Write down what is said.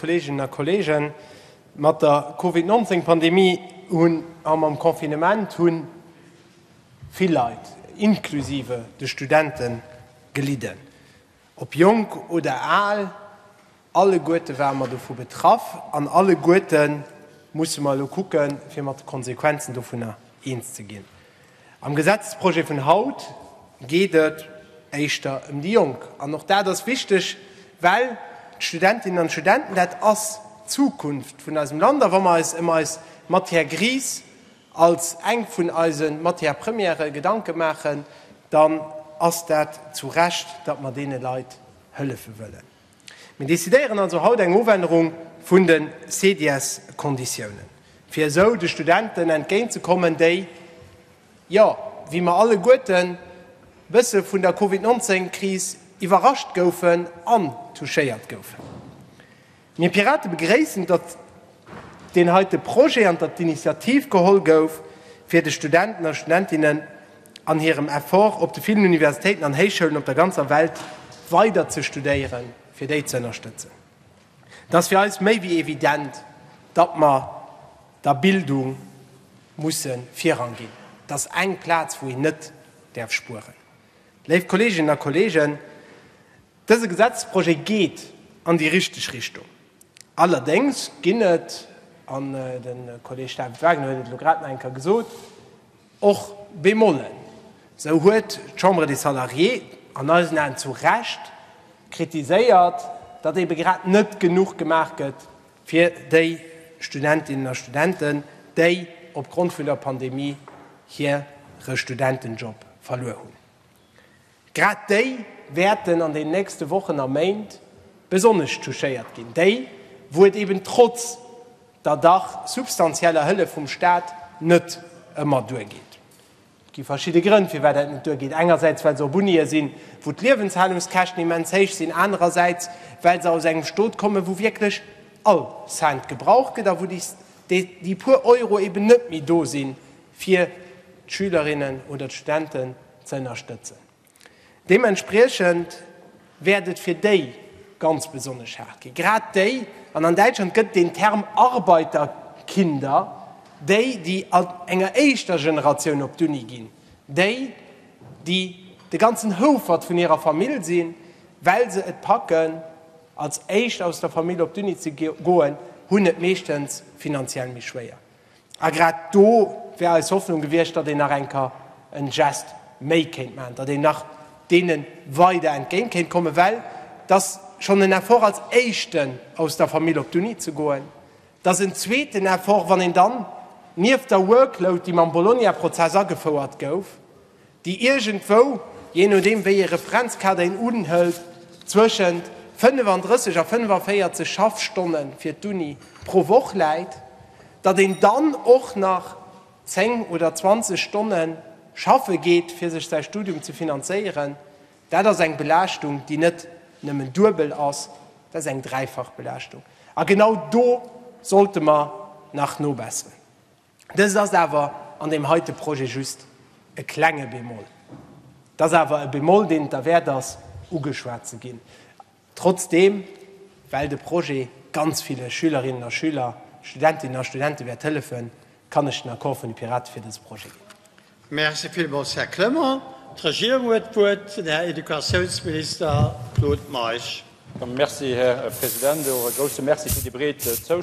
Kolleeginnen a Kolleegen, mat der Covid 19 Pandemie hunn a mam Confinement hu vill Leit, inklusive de Studenten, gelidden. Ob jonk oder al, alleguerte ware mer dovu betraff an alleguerte musse mer elo kucken, fir mat de Konsequenzen dovunner eens ze ginn. Am Gesetzesprojet vun haut geet et éischter ëm déi Jonk. An och dat ass wichteg, well d'Studentinnen an d'Studenten, dat ass d'Zukunft vun eisem Land. A wa mer eis ëm eis Matière grise als eng vun eise Matières premières Gedanke maachen, dann ass dat zu Recht, datt mer deene Leit hëllefe wëllen. Mir decidéieren also haut eng Ofännerung vun de CDS-Konditiounen, fir esou de Studenten entgéintzekommen, déi, jo, wéi mer alleguerten, e bësse vun der Covid 19 Kris iwwerrascht goufen an touchéiert goufen. Mir Pirate begréissen, datt deen heite Projet an datt d'Initiativ geholl gouf, fir de Studenten a Studentinnen, an hirem Effort op de villen Universitéiten an Héichschoulen op der ganzer Welt weider ze studéieren, fir déi ze ënnerstëtzen. Et ass fir eis méi wéi evident, datt mer der Bildung musse Virrang ginn. Et ass eng Plaz, wou een net däerf spueren. Léif Kolleeginnen a Kolleegen, dëse Gesetzesprojet geet an déi richteg Richtung. Allerdéngs ginn et, an de Kolleeg David Wagner huet et elo grad nach eng Kéier gesot, Och Bémolen, esou huet d'Chambre des Salariés an eisen Aen zu Recht kritiséiert, datt ebe grad net genuch gemaach gëtt fir déi Studentinnen a Studenten, déi opgrond vun der Pandemie hire Studentenjob verluer hunn. Grad déi wäerten an den nächste Wochen a Méint besonnesch touchéiert ginn, déi, wou et eben trotz der dach substantieller Hëllef vum Staat net ëmmer duergeet. Et gi verschidde Grënn, firwat dat net duergeet, engersäits well se op Unië sinn, wou d'Liewenshallungskäschten immens héich sinn, anerersäits well se aus engem Stot kommen, wou wierklech all Cent gebraucht gëtt a wou déi puer Euro eben net méi do sinn, fir d'Schülerinnen oder d'Studenten ze ënnerstëtzen. Deementspriechend wäert et fir déi ganz besonnesch haart ginn, grad déi, an an Däitschland gëtt et deen Term Arbeiterkinder, déi, déi an enger éischter Generatioun op d'Uni ginn, déi, déi de ganzen Houfert vun hirer Famill sinn, well se et packen, als éischt aus der Famill op d'Uni ze goen, hunn et meeschtens finanziell méi schwéier. A grad do wär eis Hoffnung gewiescht, datt een nach eng Kéier en Geste méi kéint maachen, datt een nach deene weider entgéint kéint kommen, well et ass schonn en Effort als éischten aus der Famill op d'Uni ze goen, et ass en zweeten Effort, wann een dann nieft der Workload, déi mam Bologna-Prozess agefouert gouf, déi iergendwou, jee nodeem wéi ee Referenzkader een unhëlt, zwëschent 35 a 45 Schaffstonne fir d'Uni pro Woch läit, datt een dann och nach 10 oder 20 Stonne schaffe geet, fir sech säi Studium ze finanzéieren, dat ass eng Belaaschtung, déi net nëmmen duebel ass, dat ass eng dräifach Belaaschtung. A genau do sollte mer nach nobesseren. Dëst ass awer an deem heite Projet just e klenge Bémol. Et ass awer e Bémol, deen et derwäert ass, ugeschwat ze ginn, trotzdeem, well de Projet ganz ville Schülerinnen a Schüler, Studentinnen a Studente wäert hëllefen, kann ech den Accord vun de Piraten fir dëse Projet ginn. Merci villmools, Här Clement. D'Regierung huet d'Wuert, den Här Educatiounsminister Claude Meisch. Merci, Här President. Och e grouse Merci fir déi breet Zoustëmmung.